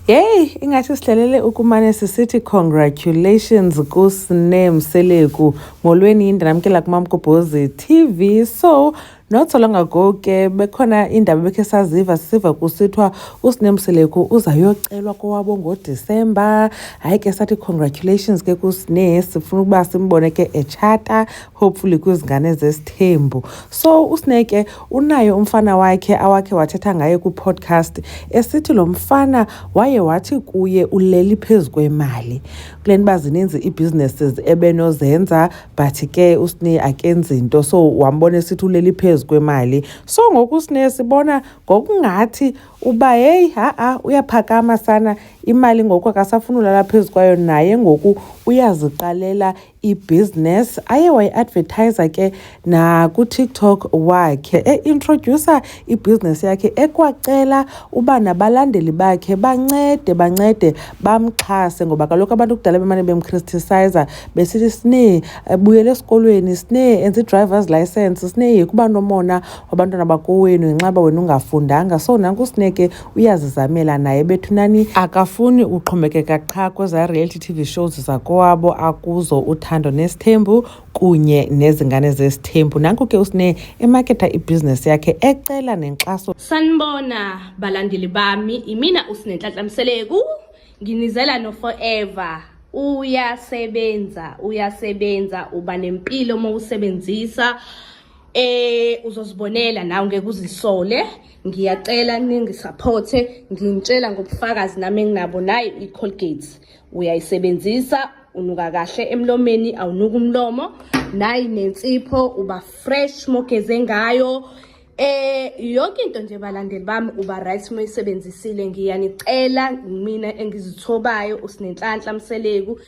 Hey, ingathi sihlelele ukumane sisithi congratulations kusne Mseleku molweni yindaba yamkela kumamgobhozi TV so not so long ago ke bekhona indaba bekhe saziva sisiva kusithiwa usne Mseleku uzayocelwa kowabo ngoDisemba hayi ke sathi congratulations ke kusne sifuna ukuba simbone ke echata hopefully kwizingane ezesithembu so usneke unaye umfana wakhe awakhe wathetha ngaye kwi-podcast esithi lo mfana waye wathi kuye uleli phezu kwemali kule nto uba zininzi ii-businesses ebenozenza but ke usne akenzi into so wambona esithi uleli phezu kwemali so ngoku usne sibona ngokungathi uba heyi ha-a uyaphakama sana imali ngoku akasafuni ulala phezu kwayo naye ngoku uyaziqalela ibhizinesi aye wayi-advertiser ke nakutiktok wakhe e-introducer ibhizinesi yakhe ekwacela uba nabalandeli bakhe bancede bancede bamxhase ngoba kaloku abantu kudala bemane bemchristisizer besithi sine ebuyele esikolweni sine enze i-drivers license sine yekuba nomona wabantwana bakowenu ngenxaba wena ungafundanga so nanku sine ke uyazizamela naye bethunani akafuni uxhomekeka qha kweza reality tv shows zakowabo akuzo uthando nesithembu kunye nezingane zesithembu nanku ke usine emaketha ibhizinesi yakhe ecela nenkxaso sanibona balandeli bami imina usinenhlanhla mseleku nginizela no forever uyasebenza uyasebenza uba nempilo uma usebenzisa eh uzozibonela nawe ngeke uzisole ngiyacela ningisapothe ngintshela ngobufakazi nami enginabo nayo i-colgate uyayisebenzisa unuka kahle emlomeni awunuka umlomo nayi nensipho uba fresh mogeze ngayo Eh yonke into nje balandeli bami uba right uma isebenzisile ngiyanicela mina engizithobayo usinenhlanhla mseleku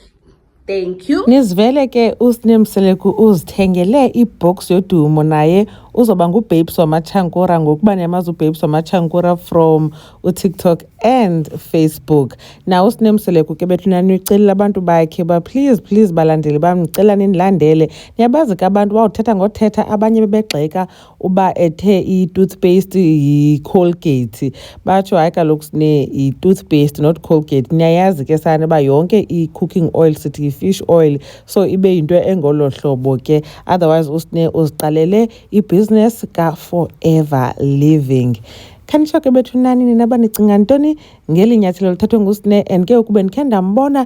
Thank you. Nizivele ke uSne Mseleku uzithengele ibox yodumo naye uzoba ngubabes wamachankura ngokuba niyamazi ubabes wamachankura from utiktok and facebook na usine mseleku ke bethu nanicelela abantu bakhe uba please please balandeli bam ndicela ninilandele niyabazi ke abantu bawuthetha ngothetha abanye bebegxeka uba ethe i-toothpaste yi-colgate batsho hayi kaloku sine yi-toothpaste not colgate niyayazi ke sana uba yonke i-cooking oil sithi yi-fish oil so ibe yinto engolo hlobo ke otherwise usine uziqalele ibhizinesi ka-forever living khanitsho ke bethunani nina banicinga ntoni ngeli nyathelo lithathwe ngusine and ke ukube ndikhe ndambona